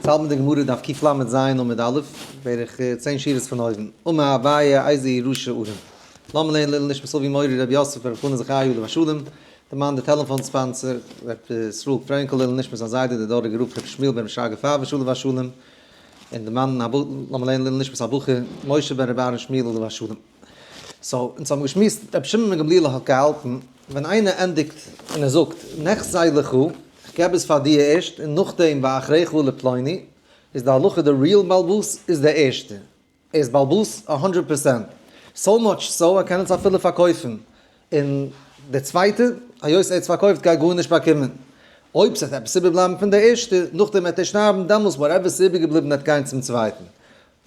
צייט מיט די גמרא דף קל ז עמוד א', בערך צען שורות פון אויבן, אמר אביי איזה ירושה ארם. למה לעיל איל נישט מסובי מורי רבי יוסף רבי חנא זכאי עליו השלום, דערמאנט די טעלעפאן ספאנסער רבי ישראל פרענקל לעיל נישט מיט זיין זיידע דער דאראגער רב רבי שמואל בן רבי שרגא פארוואש עליו השלום, און דערמאנטן למה לעיל איל נישט מיט הבחור משה בן רבי אהרן שמואל עליו השלום. סאו אונז האבן געשמועסט, רבי שמעון בן גמליאל האט געהאלטן ווען איינער ענדיגט און ער זאגט נחזי לך, איך געב עס פאר דיר ערשט און נאכדעם ואחריך לפלוני, איז די הלכה די ריעל בעל בית איז דער ערשטער, ער איז בעל בית א הונדרעט פערסענט, סאו מאטש סאו ער קען עס אפילו פארקויפן און דער צווייטער היות ער האט עס פארקויפט גייט גארנישט באקומען, אויב ס'וועט עפעס איבערבלייבן פון דער ערשטער נאכדעם וועט ער שטארבן דעמאלס וואטעווער ס'איז איבערגעבליבן וועט גיין צום צווייטן,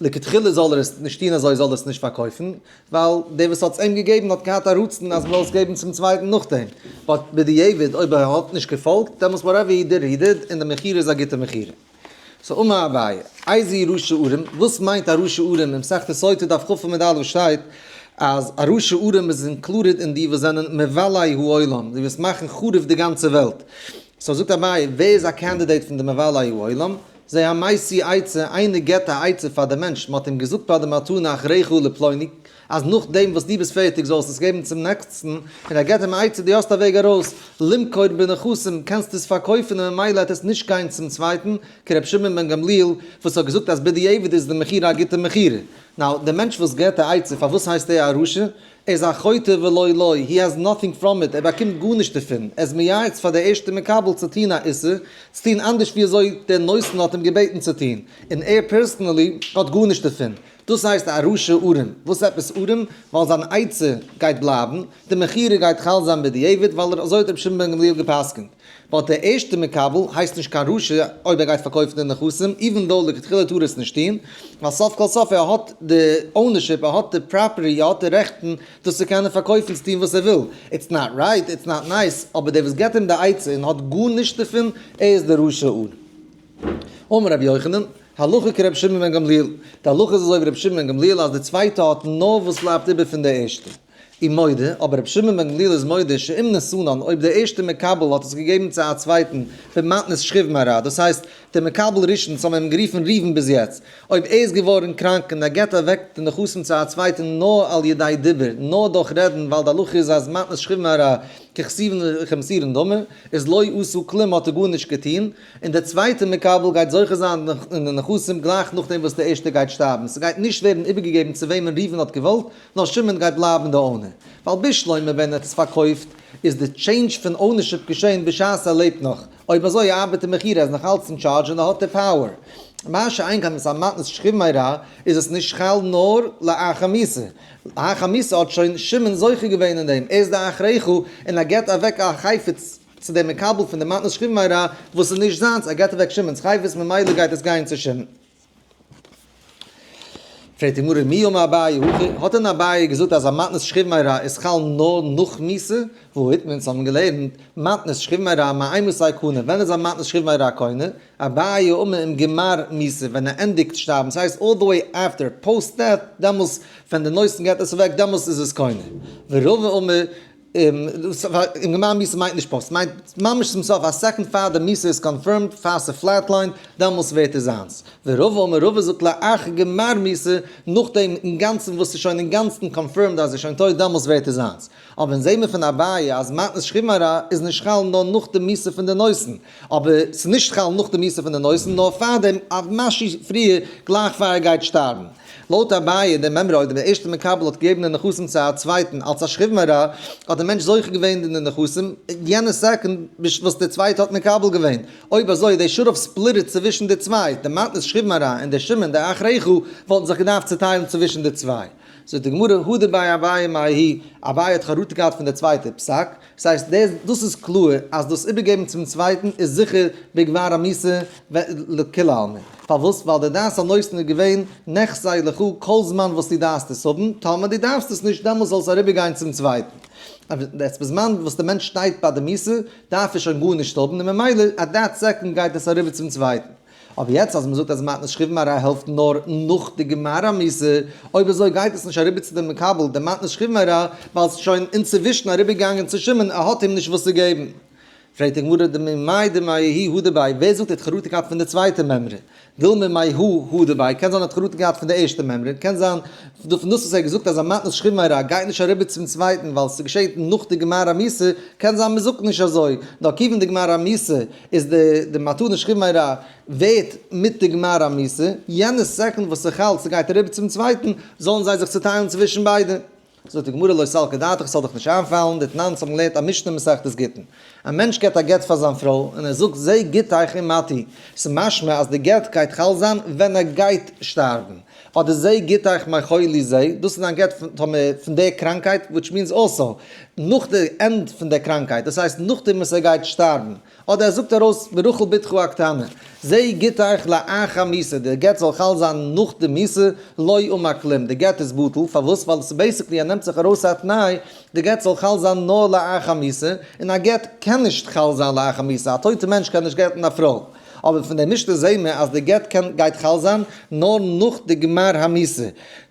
לכתחילה זאל ער עס נישט טון אזוי זאל ער עס נישט פארקויפן, ווייל דער וואס האט עס אים געגעבן האט געהאט א רצון אז מ'זאל עס געבן צום צווייטן נאכדעם, באט בדיעבד אויב ער האט נישט געפאלגט דעמאלטס וואטעווער הי דיד הי דיד און די מכירה איז א גוטע מכירה. סאו מה הבעיה? איזי ר' שעורים, וואס מיינט א ר' שעורים? אין מסכת סוטה דף כ עמוד א שטייט אז א ר' שעורים איז אינקלודעד אין די וואס זענען מבלי העולם, די וואס מאכן חרוב די גאנצע וועלט. סאו זאגט אביי, ווער איז א קענדידעיט פון די מבלי העולם? זע א מעשי עצה, איינער געבט א עצה פאר די מענטש, מען האט אים געזאגט ביי די מתנה אחריך לפלוני, אז נאכדעם וואס דו ביסט פערטיג זאלסטו עס געבן צום נעקסטן, און ער געבט אים א עצה, דו האסט א וועג ארויס, למכור בנכסים, קענסט עס פארקויפן און ממילא העט עס נישט גיין צום צווייטן, כר' שמעון בן גמליאל וואס האט געזאגט אז בדיעבד איז די מכירה א גוטע מכירה. נאו, די מענטש וואס געבט א עצה פארוואס הייסט ער א רשע? ער איז א חוטא ולא לוי', הי העז נאטינג פראם איט, ער באקומט גארנישט דערפון, ער איז מייעץ פאר דער ערשטער מקבל צו טון א איסור, צו טון אנדערש ווי אזוי דער נותן האט אים געבעטן צו טון, און ער פערסענעלי האט גארנישט דערפון. דאס הייסט א רשע ארעם. וואס עפעס ארעם? ווייל זיין עצה גייט בלייבן, די מכירה גייט חל זיין בדיעבד, ווייל אזוי האט רבי שמעון בן גמליאל גע'פסק'נט. וואלט דער ערשטער מקבל הייסט נישט קיין רשע אויב ער גייט פארקויפן די נכסים איווען דאו לכתחילה טאר ער עס נישט טוהן ווייל סוף כל סוף ער האט די אונערשיפ ער האט די פראפערטי ער האט די רעכטן דאס צו קענען פארקויפן צו טוהן וואס ער וויל איטס נאט רייט איטס נאט נייס אבער דער וואס געבט אים די עצה און האט גארנישט דערפון ער איז דער רשע אן אמר רבי יוחנן הלכה כרבי שמעון בן גמליאל די הלכה איז אזוי ווי רבי שמעון בן גמליאל אז די צווייטע האט נאר וואס בלייבט איבער פון די ערשטע. און מודה, אבער רבי שמעון בן גמליאל איז מודה שאם נשאנן אויב דער ערשטער מקבל האט עס געגעבן צו א צווייטן במתנת שכיב מרע, דאס הייסט דער מקבל ראשון צו האבן אים גערופן ראובן ביז יעצט, אויב ער איז געווארן קראנק און ער געבט אוועק די נכסים צו א צווייטן נאר על ידי דיבור, נאר דורך רעדן ווייל די הלכה איז אז מתנת שכיב מרע ככסיוון וכמסירן דמו, איז לא עשה כלום האט ער גארנישט געטון, און דער צווייטער מקבל גייט זוכה זיין אין די נכסים גלייך נאכדעם וואס דער ערשטער גייט שטארבן, ס'גייט נישט ווערן איבערגעגעבן צו וועמען ראובן האט געוואלט, נאר שמעון גייט בלייבן די אונער, ווייל ביז שלמה ווען ער האט עס פארקויפט איז די טשעינדזש פון אונערשיפ געשען בשעת ער לעבט נאך, אויב אזוי ארבעט די מכירה, ער איז נאך אלץ אין טשארדזש און ער האט די פאוער. מה שאין כאן מס' מתנת שכיב מרע איז עס נישט חל נאר לאחר מיתה, לאחר מיתה האט שוין שמעון זוכה געווען אין דעם, ער איז די אחרי חו און ער געט אוועק א חפץ צו דעם מקבל פון די מתנת שכיב מרע וואס איז נישט זיינס, ער געט אוועק שמעון'ס חפץ ממילא גייט עס גיין צו שמעון. פרעגט די גמרא מי אמר אביי הכי, האט דען אביי געזאגט אז א מתנת שכיב מרע איז חל נאר נאך מיסה? והוא איתמר, אונז האבן געלערנט, מתנת שכיב מרע מאי מסי קנה, ווען איז א מתנת שכיב מרע קונה? אביי אמר עם גמר מיסה, ווען ער ענדיגט שטארבן, ס'הייסט אלל די וועי אפטער, פאוסט דעט, דעמאלס ווען די נוירסן געט עס אוועק, דעמאלס איז עס קונה. ורבא אמר און גמר מיסה מיינט נישט פאסט, ס'מיינט ממש צום סוף, א סעקאנד פאר די מיסה איז קאנפירמד, פאר ס'פלעטליינט, דעמאלטס ווערט ער זיינס. ורבא אומר רבא זאגט לאחר גמר מיסה, נאכדעם אינגאנצן וואס ס'איז שוין אינגאנצן קאנפירמד אז ער איז שוין טויט, דעמאלטס ווערט ער זיינס. אבער אונז זעמער פון אביי אז מתנת שכיב מרע איז נישט חל נאר נאך די מיסה פון די נושאין, אבער ס'נישט חל נאך די מיסה פון די נושאין, נאר פארדעם, אוו משהו פריער, גלייך פאר ער גייט שטארבן. לויט אביי דער מימרא אויב דער ערשטער מקבל האט געגעבן די נכסים צו א צווייטן אלס א שכיב מרע האט דער מענטש זוכה געווען אין די נכסים יענע סעקונד וואס דער צווייטער האט מקבל געווען, אויב אזוי איז דער שרף ספליטעד צווישן די צוויי, דער מתנת שכיב מרע און דער שמן דער אח רעך וואלטן זיך געדארפט צוטיילן צווישן די צוויי. זאגט די גמרא הדר ביי אביי מאי האי, אביי האט חרטה געהאט פון דער צווייטער פסק, ס'הייסט, דער, דאס איז קלאר אז דאס איבערגעבן צום צווייטן איז זיכער בגמר המס' לכולי עלמא. פארוואס? ווייל דער דעת הנותן איז געווען נחזי לך כל זמן וואס דו דארפסט עס האבן, טאמער דו דארפסט עס נישט דעמאלס זאל עס אריבערגיין צום צווייטן. יעצט בזמן וואס דער מענטש שטייט ביי די מס' דארף ער שוין גארנישט האבן און ממילא אט דעט סעקאנד גייט עס אריבער צום צווייטן. אבער יעצט אז מ'זאגט אז מתנת שכיבים אריי העלפט נאר נאך די גמרא מס', אויב אזוי גייט עס נישט אריבער צו די מקבל די מתנת שכיבים אריי, ווייל ס'איז שוין אינצווישן אריבערגעגאנגען צו שמעון ער האט אים נישט וואס צו געבן. פרעגט די גמרא ד מ מאי דמאי הי' הא דבעי, ווער זאגט ער האט חרטה געהאט פון די צווייטע מימרא? דיל מ מאי הי' הא דבעי, קען זיין ער האט חרטה געהאט פון די ערשטע מימרא, קען זיין פון דאס וואס ער האט געזאגט אז א מתנת שכיבים אריי גייט נישט אריבער צום צווייטן ווייל ס'געשעט נאך די גמרא מס', קען זיין מ'זאגט נישט אזוי, נאר כיוון די גמרא מס' איז די די מתנה שכימי רע ווערט מיט די גמר המסע, יענע סעקונד וואס איך האלט ס'גייט אריבער צום צווייטן, זאלן זיי זיך צוטיילן צווישן ביידע. זאגט די גמרא לא סלקא דעתך, ס'זאל דיך נישט איינפאלן, די תנאנס האבן געלערנט א משנה אין מסכת גיטין. א מענטש געבט א גט פאר זיין פרוי, און ער זאגט זי גיט אייך אין מתי, ס'משמע אז די גט גייט חל זיין ווען ער גייט שטארבן. אדער זיי גיט אייך מיין חולי זיי, דאס איז דיין גט פון טאמער פון די קראנקייט, וויטש מיענס אלסא נאך די ענד פון די קראנקייט, דאס הייסט נאכדעם וואס ער גייט שטארבן, אדער ער זאגט ארויס ברחל בתך הקטנה, זיי גיט אייך לאחר מיתה, די גט זאל חל זיין נאך די מיתה, לא יאומה כלום, די גט איז בטל, פארוואס? ווייל עס איז בעיסיקלי ער נעמט זיך ארויס א תנאי, די גט זאל חל זיין נאר לאחר מיתה, און א גט קען נישט חל זיין לאחר מיתה, א טויטע מענטש קען נישט גט'ן א פרוי. אבער פון די משנה זעהן מיר אז די גט קען גייט חל זיין נאר נאך די גמר המעשה.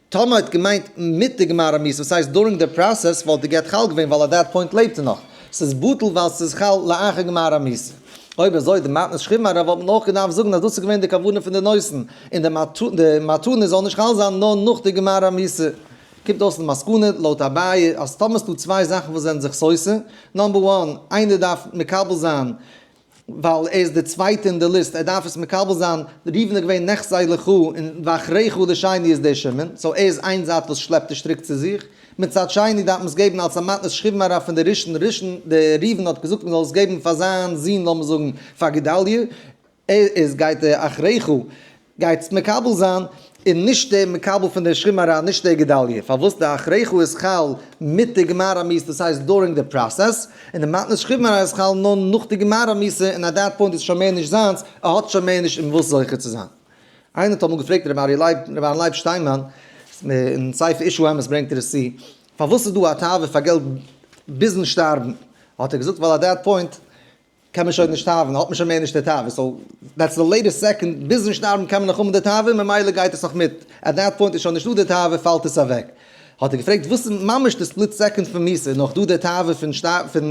טאמער האט געמיינט מיט די גמר המעשה וואס הייסט דורינג די פראסעס וואלט די גט חל געווען ווייל עט דעט פוינט לעבט ער נאך. ס'איז בטל ווייל ס'איז חל לאחר גמר המעשה. אויב אזוי די מתנת שכיב מרע וואלט מען אויך געדארפט זאגן אז דאס איז געווען די כוונה פון די נושאין און די מתנה זאל נישט חל זיין נאר נאך די גמר המעשה. קומט אויס אין מסקנא לויט אביי אז טאמער ס'דא צוויי זאכן וואס זענען זיך סותר, נאמבער וואן איינער דארף מקבל זיין ווייל ער איז דער צווייטער אין די ליסט, ער דארף עס מקבל זיין, ראובן איז געווען נחזי לכה און ואחריך די שני איז דער שמעון, סאו ער איז איין זייט וואס שלעפט די שטריק צו זיך, מצד שני דארף מען עס געבן אלס א מתנת שכיב מרע פון די ראשון, ראשון דער ראובן האט געזאגט מען זאל עס געבן פאר זיין זון לאמיר זאגן פאר גדליה, ער איז גייט ער אחריך, גייטס מקבל זיין און נישט דער מקבל פון דער שכם הרע נישט דער גדליה פארוואס די הכרחו איז חל מיט די גמר המס' דאס הייסט דורינג די פראסעס און די מתנת שכם הרע איז חל נאר נאך די גמר המס' און עט דעט פוינט איז שוין מער נישט זיינס ער האט שוין מער נישט אין וואס זוכה צו זיין. איינער האט אמאל געפרעגט רבי אריה לייב רבי אהרן לייב שטיינמאן אין ספר איש האמת ברענגט ער עס צו פארוואס איז דא א תאווה פאר געלט ביזן שטארבן האט ער געזאגט ווייל עט דעט פוינט קען מען שוין נישט האבן, האט מען שוין מער נישט די תאווה, סאו דעטס די לעיטעסט סעקאנד, ביזן שטארבן קען מען נאך האבן די תאווה און ממילא גייט עס נאך מיט, עט דעט פוינט איז שוין נישטא די תאווה פאלט עס אוועק. האט ער געפרעגט וואס איז ממש די ספליט סעקאנד פון מוסר, איז נאך דא די תאווה פון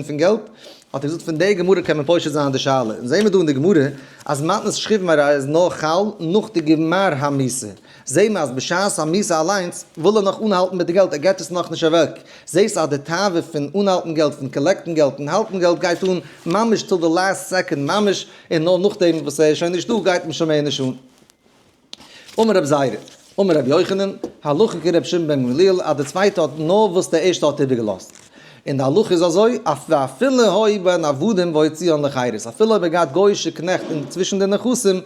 פון געלט? האט ער געזאגט פון די גמרא קען מען פושט זיין די שאלה, אונז זעמער דא אין די גמרא אז מתנת שכיב מרע איז נאר חל נאך די גמר המוסר, זעה מען אז בשעת א מיסה אליינס וויל ער נאך אנהאלטן מיט די געלט, ער געט עס נאכנישט אוועק. זעהסט אז די תאווה פון אנהאלטן געלט, פון קאלעקטן געלט און האלטן געלט גייט אן ממש טיל די לאסט סעקאנד ממש, און נאר נאכדעם וואס ער איז שוין נישטא גייט אים שוין מער נישט אן. אמר רב זיידא, אמר רבי יוחנן, הלכה כרבי שמעון בן גמליאל אז די צווייטע האט נארוואס די ערשטע האט איבערגעלאזט, און די הלכה איז אזוי, ואפילו האי בין עבדים והוציאן לחירות, אפילו אויב ער האט געהאט גוי'אישע קנעכט צווישן די נכסים,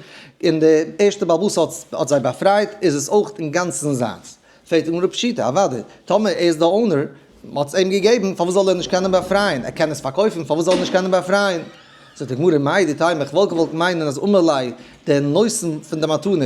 און די ערשטע בעל הבית האט זיי באפרייט, איז עס אויך אינגאנצן זיינס. פרעגט די גמרא פשיטא, אוודאי, טאמער ער איז די אונער, מען האט עס אים געגעבן, פארוואס זאל ער נישט קענען באפרייען? ער קען עס פארקויפן, פארוואס זאל ער נישט קענען באפרייען? זאגט די גמרא, מאי דתי', מען וואלט געוואלט מיינען אז אמאלי' דער נושא פון די מתנה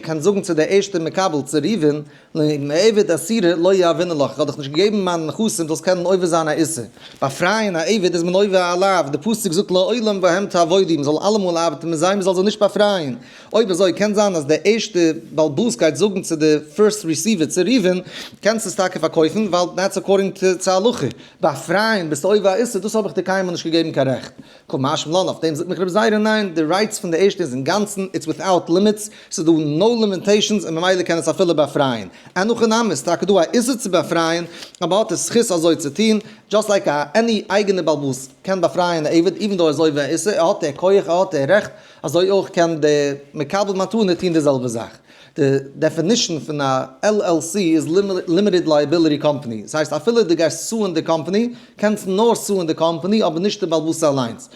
קען זאגן צו דער ערשטער מקבל צו ראובן, לעבד אסירה לא יעווינן לך, איך האב דיך נישט געגעבן מיין נכסים דו זאלסט קענען עובר זיין א איסור. באפרייען א עבד איז מען עובר עליו, די פסוק זאגט לעולם בהם תעבודו, מען זאל אלעמאל ארבעטן מיט זיי, מען זאל זיי נישט באפרייען. אויב אזוי קען זיין אז דער ערשטע בעל באס גייט זאגן צו די פירסט ריסיווער צו ראובן, קענסט עס טאקע פארקויפן ווייל דעטס אקארדינג צו הלכה, באפרייען ביסטו עובר א איסור, דאס האב איך דיר קיינמאל נישט געגעבן קיין רעכט. כמשמ לן, אויף דעם זאגט מיך רבי זייערע ניין, די רייץ פון די ערשטע איז אינגאנצן, איטס וויטאוט לימיטס, ס'איז דא נאו לימיטעישאנס און ממילא קען עס אפילו באפרייען. אין הכי נמי איז טאקע דא א איסור צו באפרייען, אבער האט ער זכות אזוי צו טון, דזשאסט לייק א עני אייגענע בעל בית קען באפרייען א עבד איווען דאו ער איז עובר א איסור, ער האט דער כח ער האט דער רעכט, אזוי אויך קען דער מקבל מתנה טון די זעלבע זאך. די דעפינישן פון א LLC איז לימיטעד לייעביליטי קאמפאני, עס הייסט אפילו דו גייסט סוען די קאמפאני, קענסט נאר סוען די קאמפאני אבער נישט די בעל בתי' אליינס.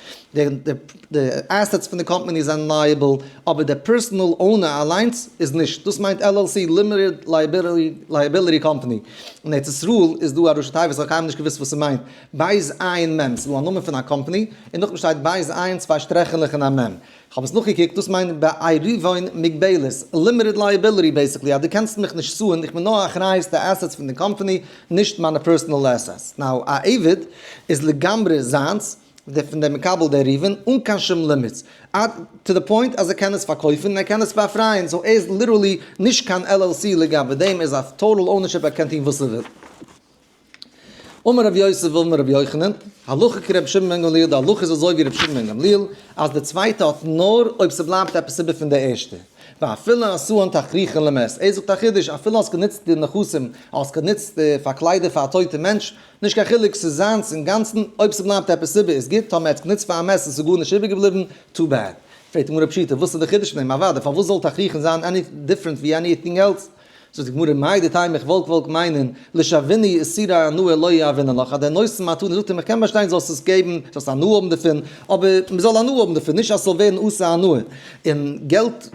די עסעטס פון די קאמפאני זענען לייעביל אבער דער פערסאנעל אונער אליינס איז נישט. דאס מיינט LLC, לימיטעד לייעביליטי קאמפאני. אין ארץ ישראל איז דא א ראשי תיבות, איך האב קיינמאל נישט געוואוסט וואס עס מיינט, בית עין מם. ס'איז דא א נאמען פון א קאמפאני און נאכדעם שטייט בית עין צוויי שטרעכעלעך און א מם. כ'האב עס נאכגעקוקט, דאס מיינט בעירבון מוגבלת, לימיטעד לייעביליטי בעיסיקלי, אז דו קענסט מיך נישט סוען, איך בין נאר אחריות די עסעטס פון די קאמפאני, נישט מיינע פערסענעל עסעטס. נאו, א עבד איז לגמרי זיינס, די פון די מקבל די עירבון, אן קיין שום לימיטס. עד טו די פוינט אז ער קען עס פארקויפן און ער קען עס באפרייען, סאו ער איז ליטערלי נישט קיין LLC לגבי דעם, ער איז אויף טאטאל אונערשיפ ער קען טון וואס ער וויל. אמר רבי יוסף ואמר רבי יוחנן, הלכה כרבי שמעון בן גמליאל, די הלכה איז אזוי ווי רבי שמעון בן גמליאל, אז די צווייטע האט נאר אויב ס'בלייבט עפעס איבער פון די ערשטע. ואפילו עשאן תכריכין למת, ער זאגט א חידוש, אפילו האסט גענוצט די נכסים, האסט גענוצט פאר קליידער פאר א טויטע מענטש, נישט קיין חילוק, ס'איז זיינס אינגאנצן, אויב ס'בלייבט עפעס איבער איז גוט, טאמער ער האט עס גענוצט פאר א מעשר און ס'איז גארנישט איבערגעבליבן, טו בעד. פרעגט די גמרא פשוטה, וואס איז די חידוש פון דעם? אוודאי, פארוואס זאל תכריכין זיין עני דיפרענט ווי עניטינג עלס? זאגט די גמרא, מאי דתי' מיך וואלק וואלק מיינען, לשוויני איז סירי הנאה לא יעווינן לך, אז דער נושא מתנה זאגט אים איך קען באשטיין זאלסט עס געבן, זאלסט הנאה האבן דערפון, אבער מען זאל הנאה האבן דערפון, נישט אז ס'זאל ווערן עושה הנאה, און געלט,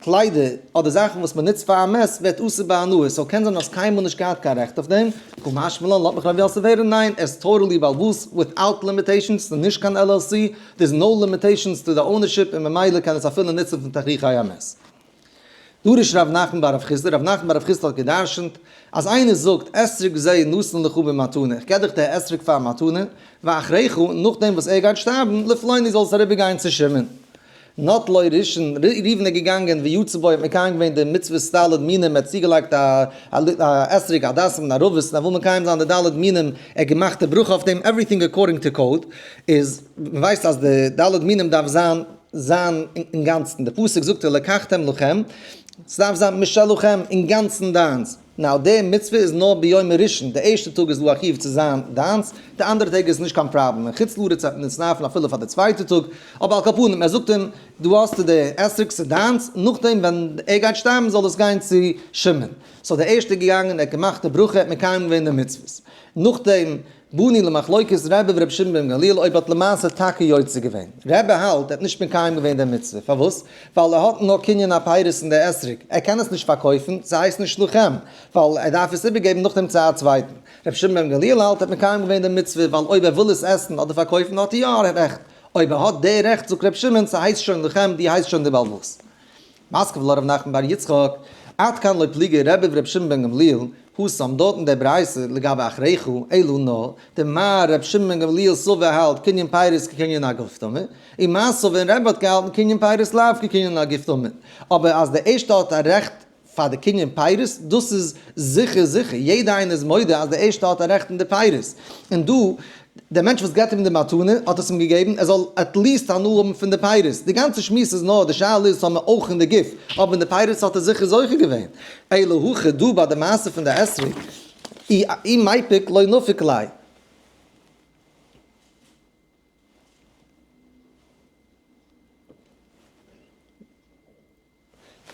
קליידער, אדער זאכן וואס מען נוצט פאר א מעס ווערט עושה בהנאה, סאו קען זיין האסט קיינמאל נישט געהאט קיין רעכט אויף דעם, כמשמע לן לאט מיך רבי יוסף הערן, ניין, עס טאטעלי בעלבאס, וויטאוט לימיטעישאנס, ס'איז נישט קיין LLC, דער איז נאו לימיטעישאנס טו די אונערשיפ און ממילא קען עס אפילו נוצן פון תכריכי המעס. דרש ר' נחמן ביי ר' חיסדא, ר' נחמן ביי ר' חיסדא האט גע'דרשנ'ט, אז איינער זאגט, אסר'ק זה נתן לך במתנה, איך געב דיך די אסר'ק פאר א מתנה, ואחריך, נאכדעם וואס ער גייט שטארבן, לפלוני זאלסט אריבער גיין צו שמעון. נט לו רישן, ר' ראובן איז געגאנגען ווי יצא בו, ער האט מקיים געווען די מצוות ד' מינים, ער האט צוגעלייגט א אסר'ק, א דאסן, א רובעס, און ער וויל מקיים זיין די ד' מינים, ער האט געמאכט די ברכה אויף דעם, עווריטינג אקארדינג טו קאוד, איז, מ'ווייסט אז די ד' מינים דארף זיין, זיין אינגאנצן, די פסוק זאגט ולקחתם לכם, ס'דארף זיין משלכם, אינגאנצן דיינס, נאר די מצוה איז נאר ביום הראשון, די ערשטע טאג איז לא החיוב צו זיין דיינס, די אנדערע טעג איז נישט קיין פראבלעם, און חוץ לארץ וועט מען עס נארפן אפילו פאר די צווייטע טאג, אבער על כל פנים, ער זאגט אים, דא האסטו די עסק ס'דיינס, נאכדעם ווען ער גייט שטארבן זאל עס גיין צו שמעון, סאו די ערשטע איז געגאנגען, ער האט געמאכט די ברכה, ער האט מקיים געווען די מצוות, נאכדעם. בני למחלוקת רבי ורבי שמעון בן גמליאל אויב האט למעשה טאקע יוצא געווען. רבי האלט ער האט נישט מקיים געווען די מצוה, פארוואס? ווייל ער האט נאר קנין הפירות אין די אתרוג, ער קען עס נישט פארקויפן, ס'הייסט נישט לחם, ווייל ער דארף עס איבערגעבן נאכדעם צו א צווייטן. רבי שמעון בן גמליאל האלט ער האט מקיים געווען די מצוה, ווייל אויב ער וויל עס עסן אדער פארקויפן האט ער יא רעכט, אויב ער האט די רעכט זאגט רבי שמעון ס'הייסט שוין לחם, דו הייסט שוין די בעל הבית. מסקווע לרב נחמן בר יצחק, עד כאן לא פליגי רביב ר' שמעון בן גמליאל, הוא שם דארט אין דער ברייתא לגבי אחריך אלא נא, דער מהר א ר' שמעון בן גמליאל סובב האלט קנין פיירס כקנין הגוף טמא, און מסעוה און רבא האט געהאלטן קנין פיירס לאו כקנין הגוף טמא, אבער אז דער ערשטער האט א רעכט פאר די קנין פיירס דאס איז זיכער זיכער, יעדער איינער איז מודה אז דער ערשטער האט א רעכט אין די פיירס, און דא דער מענטש וואס געבט אים די מתנה האט עס אים געגעבן ער זאל עטליעסט הנאה האבן פון די פירות, די גאנצע שמועס איז נאר די שאלה איז האבן מיר אויך אין די גוף, אבער אין די פירות האט ער זיכער זוכה געווען, אלא הכי דא ביי די מעשה פון די אתרוג, אי מפיק לא נפיק ליה.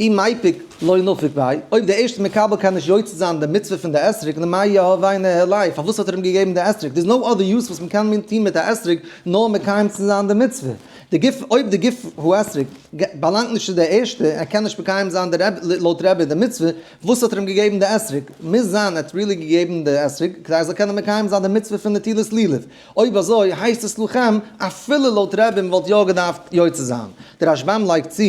אי מפיק לא נפיק ביי, אויב דער ערשטער מקבל קען נישט יוצא זיין די מצוה פון די אתרוג נו מאי יהווי נהר לייף פארוואס האט ער אים געגעבן די אתרוג דער'ס נאו אדער יוז וואס מען קען מין טון מיט א אתרוג נאר מקיים צו זיין די מצוה די גוף אויב די גוף האתרוג באלאנגט נישט צו דער ערשטער ער קען נישט מקיים זיין די רעב לויט רעבער די מצוה פארוואס האט ער אים געגעבן די אתרוג מוז זיין ער האט רילי געגעבן די אתרוג כדי ער זאל קענען מקיים זיין די מצוה פון נטילת לולב. אויב אזוי הייסט עס לכם אפילו לויט רבים וואלט יא געדארפט יוצא זיין. דער רשב ם לייגט צו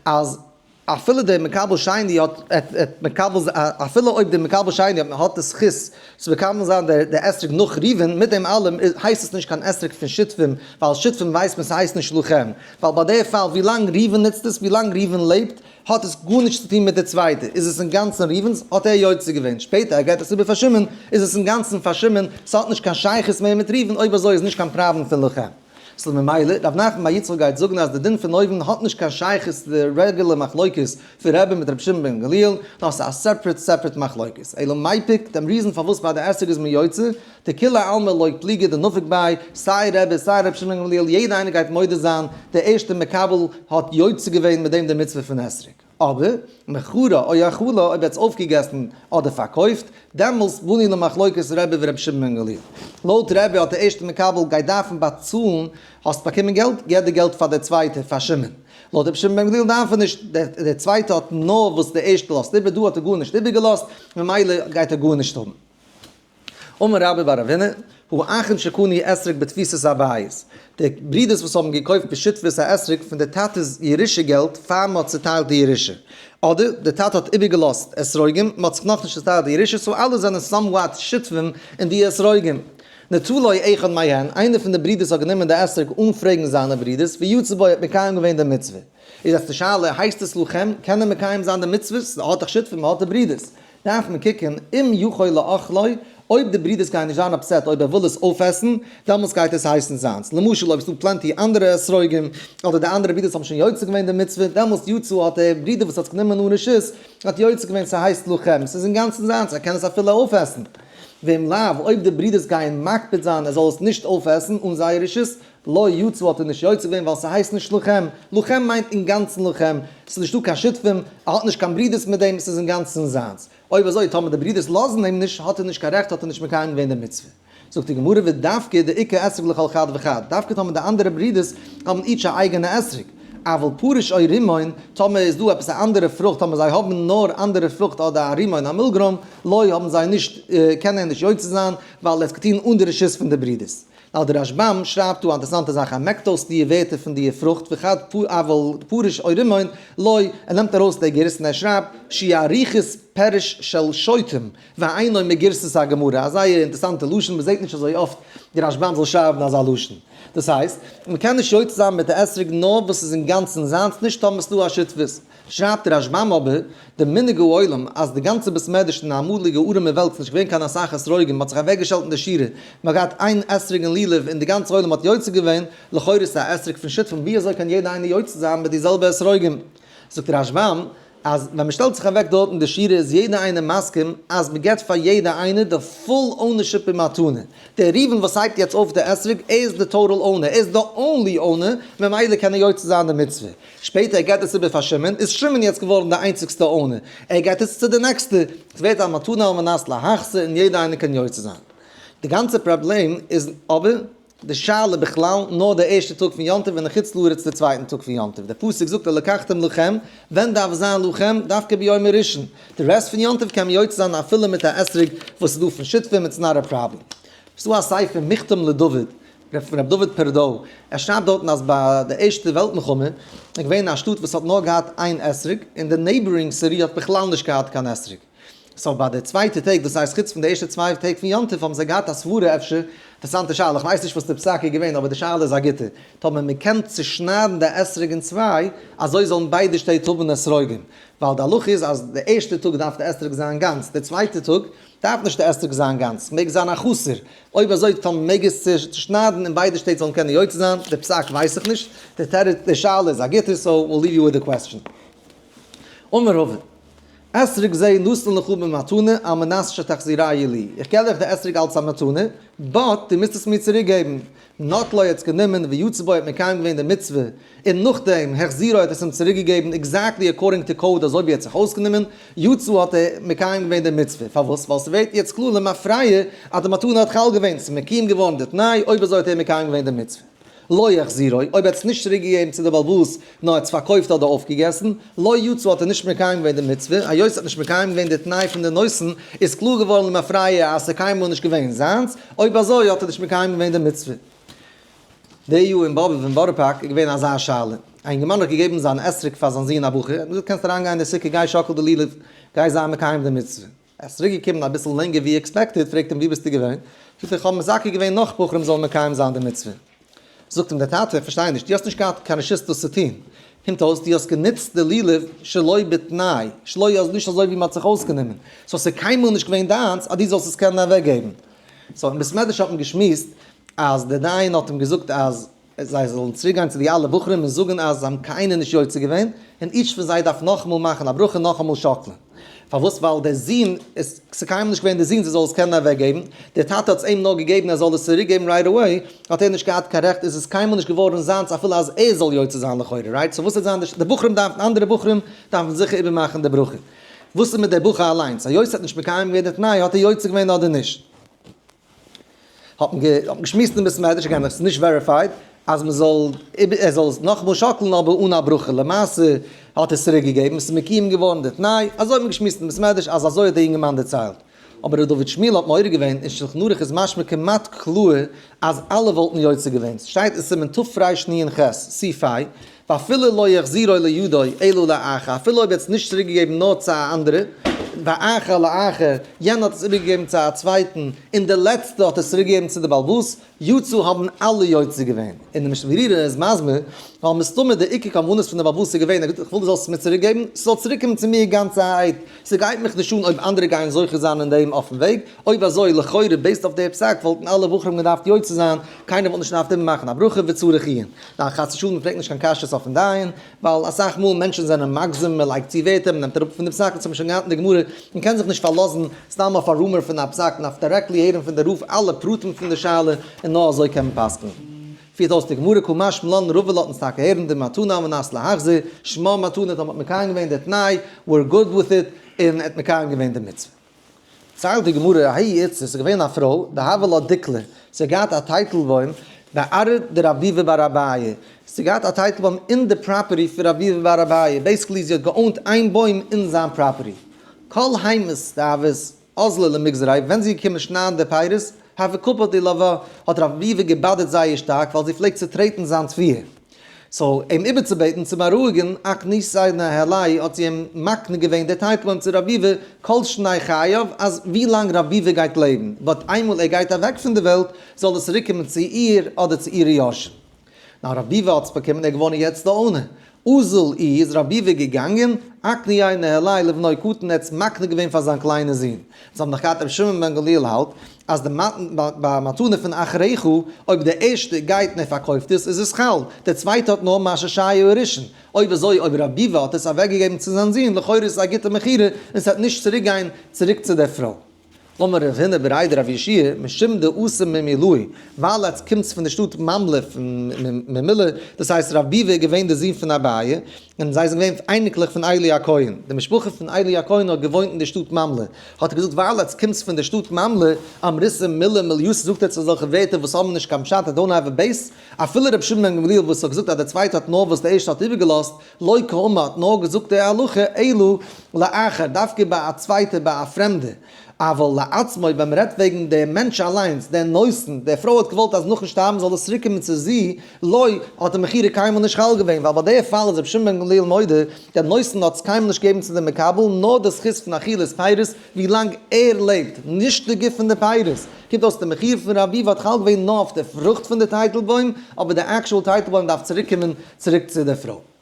אז אפילו דער מקבל שני האט האט מקבל זיין אפילו אויב דער מקבל שני האט האט די זכות צו מקבל זיין דער דער אתרוג נאך ריבין מיט דעם אלעם איז הייסט עס נישט קיין אתרוג פון שותפים ווייל שותפים ווייסט מען ס'הייסט נישט לכם ווייל ביי דער פאל ווילאנג ריבין נוצט עס ווילאנג ריבין לעבט האט עס גארנישט צו טון מיט די צווייטע, איז עס אינגאנצן ריבן'ס, האט ער יוצא געווען, שפעטער ער געט עס איבער פאר שמעון, איז עס אינגאנצן פאר שמעון, ס'האט נישט קיין שייכות מער מיט ריבן, אויב אזוי איז נישט קיין פראבלעם פון לכה פ ממילא ר' נחמן בר יצחק גייט זאגן אז די דין פון אויבן האט נישט קיין שייכות צו די רעגולער מחלוקת פון רעבין מיט רבי שמעון בן גמליאל, נאר ס'איז א סעפרעט סעפרעט מחלוקת, אלא מאי פוק, דעם ריזען פארוואס ביי די עסק איז מען יוצא, די כולי עלמא לויט ליגע די נפק ביי סיי רעבעס סיי ר' שמעון גמליאל יעדע איינער גייט מודה זיין די ערשטע מקבל האט יוצא געווען מיט דעם די מצוה פון אתרוג אבער מכרה או אכלה אויב ער האט עס אויפגעגעסן אדער פארקויפט דעמאלס בנין למחלוקת רעבע ור' שמעון גמליאל לויט רעבע האט די ערשטע מקבל גייט דארפן באצאלן האסט באקומען געלט געב די געלט פאר די צווייטע פאר שמעון לויט ר' שמעון גמליאל דארף ער נישט די צווייטע האט נאר וואס די ערשטע לאזט איבער דא האט ער גארנישט איבער געלאזט ממילא גייט ער גארנישט האבן. אמר רבי בר אבינר, הוא אכן שקנה אתרוג בתפיסת אביו'ס, די ברודערס וואס האבן געקויפט בשותפות א אתרוג פון די טאטע'ס ירושה געלט פאר מען האט צוטיילט די ירושה, אדער די טאטע האט איבערגעלאזט אתרוגים, מען האט זיך נאכנישט צוטיילט די ירושה, סאו אלע זענען סאמוואט שותפים אין די אתרוגים. נטו לו אחד מהן, איינער פון די ברודערס האט גענומען די אתרוג אן פרעגן זיינע ברודערס, ויצא בו ער האט מקיים געווען די מצוה. איז יעצט די שאלה, הייסט עס לכם, קען ער מקיים זיין די מצוות, ער האט דאך שותפים, ער האט די ברודערס, דארף מען קוקן אם יכול לאכלו, אויב די ברודערס גייען נישט זיין אפסעט אויב ער וויל עס אויפעסן, דעמאלטס גייט עס הייסן זיינס, למשל אויב עס איז דא פלענטי אנדערע אתרוגים, אדער די אנדערע ברודערס האבן שוין יוצא געווען די מצוה, דעמאלטס יצא האט דער ברודער וואס האט עס גענומען אן רשות, האט יוצא געווען ס'הייסט לכם, ס'איז אינגאנצן זיינס, ער קען עס אפילו אויפעסן. ואם לאו, אויב די ברודערס גייען מקפיד זיין ער זאל עס נישט אויפעסן אן זייער רשות, לא יצא האט ער נישט יוצא געווען ווייל ס'הייסט נישט לוחם, לוחם מיינט אינגאנצן לוחם, ס'איז נישטא קיין שותפים, ער האט נישט קיין ברידערס מיט דעם, ס'איז אינגאנצן זיינס. אויב אזוי טאמער די ברידערס לאזן אים נישט האט ער נישט קיין רעכט האט ער נישט מקיים געווען די מצוה. זאגט די גמרא ודווקא די עיקר אתרוג לכל חד וחד, דווקא טאמער די אנדערע ברידערס האבן איטש א אייגענע אתרוג, אבל פרוש או רימון, טאמער איז דא עפעס א אנדערע פרוכט, טאמער זיי האבן נאר אנדערע פרוכט אדער א רימון א מילגרוים, לא האבן זיי נישט, קען ער נישט יוצא זיין, ווייל ער האט עס געטון אן די רשות פון די ברידערס. ווייל דער רש בם שרייבט דא א אינטערעסאנטע זאך, ער מעקט אויס דיע ווערטער פון דיע פרוכט וכת פ אבל פרוש או רימון לא, ער נעמט ארויס די גרסה און ער שרייבט שי' אריכות פרש של שוטים והיינו מגרסת הגמרא, א זייער אינטערעסאנטע לשון, מען זעט נישט אזוי אפט די רש בם זאל שרייבן אזא לשון. דאס הייסט, מען קען נישט יוצא זיין מיט די אתרוג נאר וואס איז אינגאנצן זיינס נישט טאמערסט דא א שותפות. שרייבט דער רשב ם אבער די מנהג העולם אז די גאנצע בית מדרש אין די אמאליגע ארעמע וועלט איז נישט געווען קיין אסאך אתרוגים מען האט זיך אוועקגעשטעלט אין די שירה מען האט געהאט איין אתרוג אין לולב און די גאנצע עולם האט יוצא געווען, לכאורה איז עס א אתרוג פון שותפים ווי אזוי קען יעדער איינער יוצא זיין מיט די זעלבע אתרוגים? זאגט דער רשב ם אז ווען מען שטעלט זיך אוועק דארט אין די שירה איז יעדער איינער מסכים אז מען געבט פאר יעדער איינער די פול אונערשיפ אין מתנה, דער ראובן וואס הייבט יעצט אויף די אתרוג ער איז די טאטעל אונער ער איז די אנלי אונער ממילא קען ער יוצא זיין די מצוה, שפעטער ער געט עס איבער פאר שמעון, איז שמעון יעצט געווארן די איינציגסטע אונער, ער געט עס צו די נעקסטע, עס ווערט א מתנה על מנת להחסר און יעדער איינער קען יוצא זיין. די גאנצע פראבלעם איז אבער די שאלה בכלל נאר די ערשטע טאג פון יום טוב און לחוץ לארץ די צווייטן טאג פון יום טוב, די פסוק זאגט און לקחתם לכם, ווען דארף זיין לכם? דווקא ביום הראשון? די רעסט פון יום טוב קען מען יוצא זיין אפילו מיט א אתרוג וואס איז דא פון שותפים, איטס נאט א פראבלעם. ס'דא א ספר מכתם לדוד רעדט פון ר' דוד פערדאו, ער שרייבט דארטן אז ביי די ערשטע וועלט מלחמה איז געווען א שטאט וואס האט נאר געהאט איין אתרוג, און די נעיבארינג סיטי האט בכלל נישט געהאט קיין אתרוג. סאו ביי די צווייטע טעג, דאס הייסט חוץ פון די ערשטע צוויי טעג פון יום טוב, האבן זיי געהאט א סברה אפשר, אינטערעסאנטע שאלה, כ'ווייס נישט וואס די פסק איז געווען, אבער די שאלה איז א גוטע, טאמער מען קען צושניידן די אתרוג אין צוויי, אזוי זאלן ביידע שטעט האבן אתרוגים, ווייל די הלכה איז אז די ערשטע טאג דארף די אתרוג זיין גאנץ, די צווייטע טאג דארף נישט די אתרוג זיין גאנץ, ס'מעג זיין א חסר, אויב אזוי טאמער מעג עס צושניידן און ביידע שטעט זאלן קענען יוצא זיין די פסק ווייס איך נישט, די תירוץ די שאלה איז א גוטע סאו וויל ליוו יו וויט די קוועסטשען. אמר הווה. אתרוג זה נתן לך במתנה על מנת שתחזיריה לי, איך געב דיך די אתרוג אלץ א מתנה, באט דו מוזט עס מיר צוריק געבן. נטלו האט עס גענומען ויצא בו ער האט מקיים געווען די מצוה, און נאכדעם העכסט זירא האט עס אים צוריק געגעבן עקזעקטלי עקארדינג טו קאוד אזוי ווי ער האט זיך אויסגענומען, יצא האט ער מקיים געווען די מצוה, פארוואס? ווייל ס'ווערט יעצט קלאר למפרע אז די מתנה האט חל געווען, ס'איז מקים געווארן די תנאי, אויב אזוי האט ער מקיים געווען די מצוה. לא העכסט זירא, אויב ער האט עס נישט צוריק געגעבן צו די בעל הבית נאר ער האט עס פארקויפט אדער אויפגעגעסן, לא יצא האט ער נישט מקיים געווען די מצוה, היות ער האט נישט מקיים געווען די תנאי פון די נושאין איז קלאר געווארן למפרע אז ס'איז קיינמאל נישט געווען זיינס, אויב אזוי האט ער נישט מקיים געווען די מצוה. די יו אין באבוב אין בארא פארק איז געווען אזא שאלה, א אינגערמאן האט געגעבן זיין אתרוג פאר זיין זון א בחור, ער האט אים געזאגט קענסט אריינגיין אין די סוכה גיי שאקל די לולב, גיי זיי מקיים די מצוה, ער איז צוריק געקומען אביסל לענגער ווי עקספעקטעד, פרעגט אים ווי ביסטו געווען, זאגט ער איך האב מזכה געווען נאך בחורים זאלן מקיים זיין די מצוה, זאגט אים דער טאטע איך פארשטיי נישט דו האסט נישט געהאט קיין רשות דאס צו טון, קומט אויס דו האסט גענוצט די לולב שלא בתנאי, שלא נישט אזוי ווי מען האט זיך אויסגענומען, סאו ס'איז קיינמאל נישט געווען דיינס אז דו זאלסט עס קענען אוועקגעבן, סאו אין בית מדרש האט מען געשמועסט אז דער דיין האט אים געזאגט אז זיי זאלן צוריק גיין צו די אלע בחורים און זאגן אז זיי האבן קיינער נישט יוצא געווען, און איטש פון זיי דארף נאכאמאל מאכן א ברכה און נאכאמאל שאקלען. פארוואס? ווייל דער זון, עס איז קיינמאל נישט געווען דער זון זיי זאלן עס קענען אוועק געבן, דער טאטע האט עס אים נאר געגעבן ער זאל עס צוריק געבן רייט עוועי, האט ער נישט געהאט קיין רעכט, איז עס קיינמאל נישט געווארן זיינס אפילו אז ער זאל יוצא זיין לכאורה, רייט? סאו וואס וועט זיין די ש די בחורים דארפן אנדערע בחורים דארפן זיכער איבער מאכן די ברכה. וואס איז מיט דער בחור אליינס? היות ער האט נישט מקיים געווען די תנאי, האט ער יוצא געווען אדער נישט? האט מען געשמועסט אין בית מדרש, הגם עס איז נישט וועריפייד, אז מען זאל ער זאל עס נאכאמאל שאקלן אבער אן א ברכה, למעשה האט ער עס צוריק געגעבן, עס איז מקויים געווארן די תנאי, אזוי האט מען געשמועסט אין בית מדרש אז אזוי האט דער יונגערמאן דערציילט. אבער ר' דוד שמואל האט מעורר געווען אין שלחן ערוך איז משמע כמעט קלאהר אז אלע וואלטן יוצא געווען, סשטייט אין סימן תב רש נ אין חז ל סי' פי, ואפילו לא יחזירו לידו אלא לאחר, אפילו אויב ער האט עס נישט צוריק געגעבן נאר צו א אנדערע, ואחר לאחר, יענער האט עס איבערגעגעבן צו א צווייטן, און דער לעצטער האט עס צוריק געגעבן צו די בעל באס, יצא האבן אלע יוצא געווען, און די משנה ברורה איז מסביר, ווייל מסתמא די עיקר כוונות פון די באבוס איז געווען, ער געט איך וויל דו זאלסט עס מיר צוריק געבן, ס'זאל צוריק קומען צו מיר גאנצערהייט, ס'גייט מיך נישט אן אויב אנדערע גייען זוכה זיין אין דעם אויפן וועג, אויב אזוי לכאורה בעיסד אויף די פסק וואלטן אלע בחורים געדארפט יוצא זיין, קיינער וואלט נישט געדארפט איבערמאכן א ברכה וצריך עיון, ניין חס ושלום מ'פרעגט נישט קיין קשיות אויפן דיין. ווייל אסאך מאל מענטשן זענען מגזם, מען לייגט צו ווערטער, מען נעמט אראפ פון די פסק, דאס האט מען שוין געהאט אין די גמרא, מען קען זיך נישט פארלאזן סתם אויף א רומער פון א פסק, מען דארף דירעקטלי הערן פון די רב אלע פרטים פון די שאלה, און נאר אזוי קען מען פסק'ן. פירט אויס די גמרא כה משמ ל און רבא ל האט אונז טאקע הערן די מתנה על מנת להחזיר, שמה מתנה, טאמער האט מקיים געווען די תנאי, ווער גוד וויט איט, און ער האט מקיים געווען די מצוה. זאגט די גמרא, האי איצטער, ס'איז געווען א פרוי, דהוה לא דקלה, זי האט געהאט א טייטלבוים בערב די רבי'בע ביי רביה, זי האט געהאט א טייטלבוים אין די פראפערטי פון רבי'בע ביי רביה, בעיסיקלי זי האט געאונט איין בוים אין זיין פראפערטי, כל היימס דאבות אזלא למגזרי, ווען זי איז געקומען שניידן די פירות, הוה קפותי לוה, האט רבי'בע געבאדערט זייער שטארק, ווייל זי פלעגט צוטרעטן זיין תביעה. סאו אים איבערצובעטן צו בארואיגן אק נישט זיין א העלי' האט זי אים מקנה געווען די טייטלען צו רבי'ווע כל שני חייו אז ווי לאנג רבי'ווע גייט לעבן בעת איינמאל ער גייט אוועק פון די וועלט זאל עס צוריק קומען צו איר אדער צו אירע יורשים. נאר רבי'ווע האט עס באקומען ער איז געווארן יעצט די אונער אזל אי איז רבי'ווע געגאנגען אק ניי נהלי' לבנו קטן ער האט עס מקנה געווען פאר זיין קליינע זון זיי האבן נאך געהאט רבי שמעון בן גמליאל האלט אז די מתנה פון אחריך, אויב דער ערשטער גייט און ער פארקויפט עס, איז עס חל, דער צווייטער האט נאר מה שהיה הראשון, אויב אזוי אויב רב ביבא האט עס אוועק געגעבן צו זיין זון, לכאורה איז עס א גוטע מכירה און עס וועט נישט צוריק גיין צוריק צו דער פרוי. אמר רב הונא בריד רב ישעי' משום די עושה ממילאי, ווייל עטס קומטס פון די שטאט ממלא פון ממילא, דאס הייסט רב ביבא איז געווען דער זון פון אביי, און זיי זענען געווען אייניקלעך פון איילי הכהן, די משפחה פון איילי הכהן האט געוואוינט אין די שטאט מאמלע, האט ער געזאגט ווייל אז קומסט פון די שטאט מאמלע, אמריסם מילה מליוס זאגט עטס אזעלכע ווערטער וואס האבן נישט קיין פשט און דאונט העוו א בעיס, אפילו רבי שמעון בן גמליאל וואס האט געזאגט אז דער צווייטער האט נאר וואס דער ערשטער האט איבערגעלאזט, לא קאומה האט נאר געזאגט די הלכה אלא לאחר, דווקא ביי א צווייטער ביי א פרעמדער. אבל לעצמו ווען מ'רעדט וועגן דעם מענטש אליינס, דער נושא, די פרוי האט געוואלט אז נאכן שטארבן זאל עס צוריק קומען צו זי, לו האט די מכירה קיינמאל נישט חל געווען, ווייל ביי די פאל איז רבי שמעון בן גמליאל מודה, דער נושא האט עס קיינמאל נישט געגעבן צו די מקבל, נאר די זכות פון אכילת פירות ווי לאנג ער לעבט, נישט די גוף פון די פירות. קומט אויס די מכירה פון ר' אביב האט חל געווען נאר אויף די פרוכט פון די טייטלבוים, אבער די עקשועל טייטלבוים דארף צוריק קומען צוריק צו די פרוי.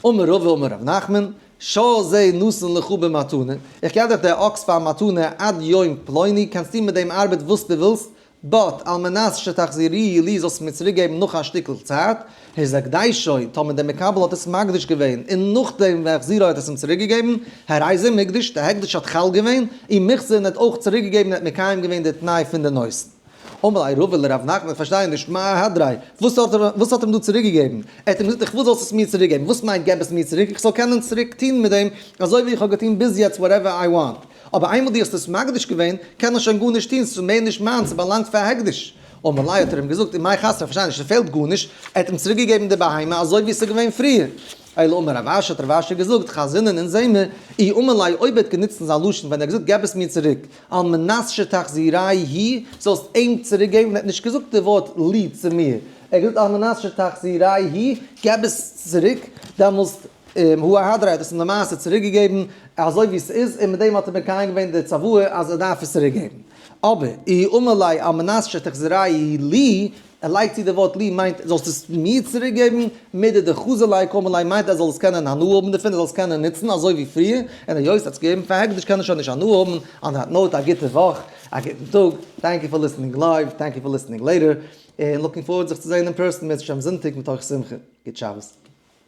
אמר רבא אמר רבי נחמן, שא זה נושאין לך במתנה, איך געב דיך די אקס פאר מתנה עד יום פלוני, קענסט טון מיט דעם ארבעט וואס דו ווילסט, בעת על מנת שתחזיריהי לי זאלסט מיר צוריק געבן נאך א שטיקל צייט, היזק דיישוי, טאמער דער מקבל האט עס מקדיש געווען און נאכדעם ווען החזירו האט עס אים צוריק געגעבן, הרי זה מקדש, די הקדש האט חל געווען, און מחזיר און ער האט אויך צוריק געגעבן און ער האט מקיים געווען די תנאי פון די נושאין. אמר ליה רבא לר' נחמן איך פארשטיי נישט מה ההדרי, וואס האט ער וואס האט ער אים דא צוריק געגעבן? ער האט אים געזאגט איך וויל זאלסט עס מיר צוריק געבן, וואס מיינט געב עס מיר צוריק? איך זאל קענען צוריק טון מיט דעם אזוי ווי איך האב געטון ביז יעצט וואטעווער איי וואנט, אבער איינמאל דו האסט עס מקדיש געווען קען איך שוין גארנישט טון, ס'איז מער נישט מיינס, ס'באלאנגט פאר הקדש. אמר ליה האט ער אים געזאגט אין מאי חסר, איך פארשטיי נישט ס'פעלט גארנישט, ער האט אים צוריק געגעבן די בהמה אזוי ווי ס'איז געווען פריער. אלא אמר רב אשי האט רב אשי געזאגט, חזר'ן און זעמיר, אי אמר ליה אויב ער האט גענוצט אין זיין לשון ווען ער האט געזאגט געב עס מיר צוריק, על מנת שתחזירי ה', זאלסט אים צוריק געבן, ער האט נישט געזאגט די ווארט לי צו מיר, ער האט געזאגט על מנת שתחזירי ה', געב עס צוריק, דעמאלסט הוא הדרי האט עס אים למעשה צוריק געגעבן אזוי ווי עס איז, און מיט דעם האט ער מקיים געווען די צוואה אז ער דארף עס צוריק געבן. אבער אי אמר ליה על מנת שתחזירי לי, ער לייגט צו די ווארט לי מיינט זאלסטו עס מיר צוריק געבן, מידי דחזי ליה קמא ליה מיינט אז ער זאל עס קענען הנאה האבן דערפון, ער זאל עס קענען נוצן אזוי ווי פריער, און היות ער האט עס געגעבן פאר הקדש קען ער שוין נישט הנאה האבן, אן דעט נאוט א גוטע וואך, א גוטן טאג, טענק יו פאר ליסטענינג לייוו, טענק יו פאר ליסטענינג לעיטער, און לוקינג פארווארד זיך צו זען אין פערסאן בעזהשי ת אום זונטאג מתוך שמחה, גוט שבת.